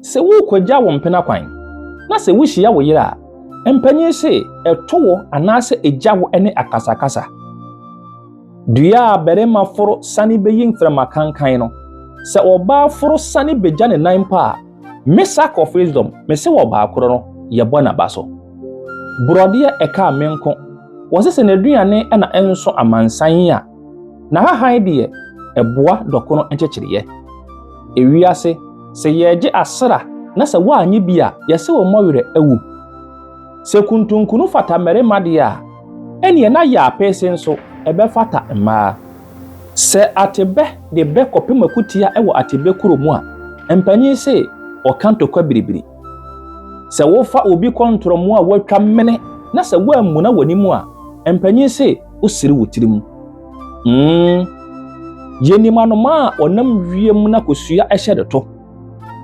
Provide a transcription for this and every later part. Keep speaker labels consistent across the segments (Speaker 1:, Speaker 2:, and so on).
Speaker 1: Sɛ worekogya wo mpena kwan, na sɛ wuhyia wo yere a, mpanyin se to wo anaasɛ gya wo ne akasakasa. Dua a barima foro sane beyi mframa kankan no, sɛ ɔbaa foro sane begya ne nan mpo a, me sack of wisdom, mese wɔ baakoro no, yɛbɔ n'aba so. Borɔdeɛ ɛkaa me nko, wɔse sɛ n'aduane na ɛnso amansan a, Na hahan deɛ ɛboa dɔkono nkyekyereɛ. Ewiase, sɛ yɛregye asra na sɛ woannye bi a, yɛse wo mmɔ werɛ awu. Sɛ kuntunkunu fata mmarima deɛ a, ɛnneɛ na yaapeese nso ɛbɛfata mmaa. Sɛ atebɛ de bɛ kɔpem akutia wɔ atebɛ kuro mu a, mpanin se wɔka ntokwa biribiri. Sɛ wofa obi kɔ ntorɔmo a wɔatwa mene na sɛ woammuna w'anim a, mpanyin se wosere wo tirim. Mm. Yenim anomaa a ɔnam wiem na kosua hyɛ ne to.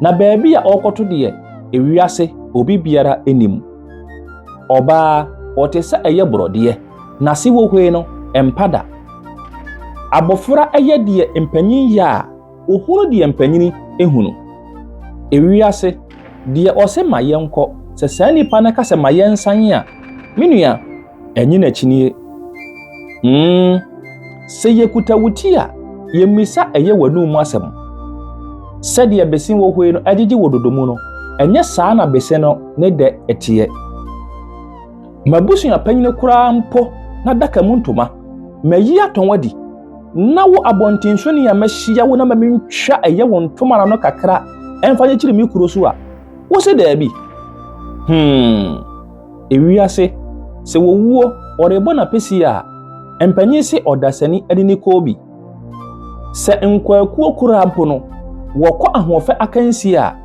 Speaker 1: Na baabi a ɔrekɔto deɛ, ewiase obi biara nim. Ɔbaa, ɔte sɛ ɛyɛ borɔdeɛ, n'ase wohoe no, ɛmpa da. Abofra yɛ deɛ mpanyin yɛ a Ohunu deɛ mpanyini hunu. Ewiase, deɛ ɔse ma yɛnkɔ, sɛ saa nipa no ka sɛ ma yɛnsan a, me nua, ɛnye n'akyinie. Mm, sɛ yɛkuta wo ti a, yɛmmisa ɛyɛ w'anum mu asɛm. Sɛdeɛ bese wɔ hɔ yi no agyegye wɔ dodo mu no, ɛnyɛ saa na bese no ne dɛ teɛ. M'abusuapanyini koraa mpo n'adaka mu ntoma, mayi atɔn adi. Na wo abɔnten so nea mahyia wo na ma mintwa ɛyɛ wo ntomara no kakra ɛmfa nyekyere me kuro so a, wose daabi? Hmm, ewiase, sɛ wɔwuo wɔrebɔ n'apɛsie a, mpanyin se ɔdasani de ne kɔɔ bi. Sɛ nkwaakuo koraa mpo no, wɔkɔ ahoɔfɛ akansie a,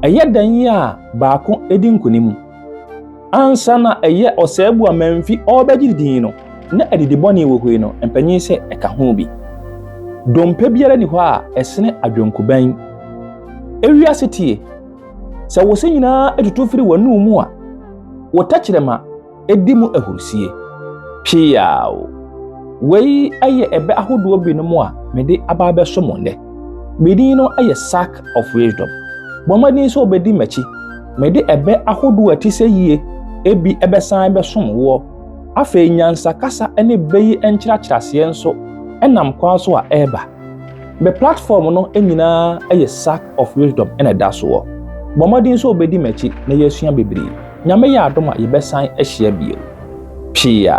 Speaker 1: ɛyɛ dɛn a baako di nkonim? Ansa na ɛyɛ ɔsɛebu a Mamfi ɔrebɛgye ne din no, na adidi bɔne wɔ hɔ yi no mpanyin sɛ ɛka ho bi. Dompe biara nni hɔ a ɛsene adwenkoban. Ewi ase tie! Sɛ wo se nyinaa atutu firi w'anom mu a, wo tɛkyerɛma di mu ahurusie. Piaw! Wei yɛ ɛbɛ ahodoɔ binom a mede aba abɛso mo nnɛ. Me din no yɛ Sack of Wisdom. Bɔ mmɔden sɛ wobɛdi m'akyi Mede ɛbɛ ahodoɔ a ɛte sɛ yie bi bɛsan bɛsom woɔ. Afei nyansa kasa ne bɛ yi nkyerɛakyerɛaseɛ nso nam kwan so a ɛreba. Me platform no nyinaa yɛ sack of wisdom na ɛda soɔ. Bɔ mmɔden sɛ wobɛdi m'akyi na yɛasua bebree. Nyame yɛ adom a yɛbɛsan ahyia bio. Pia.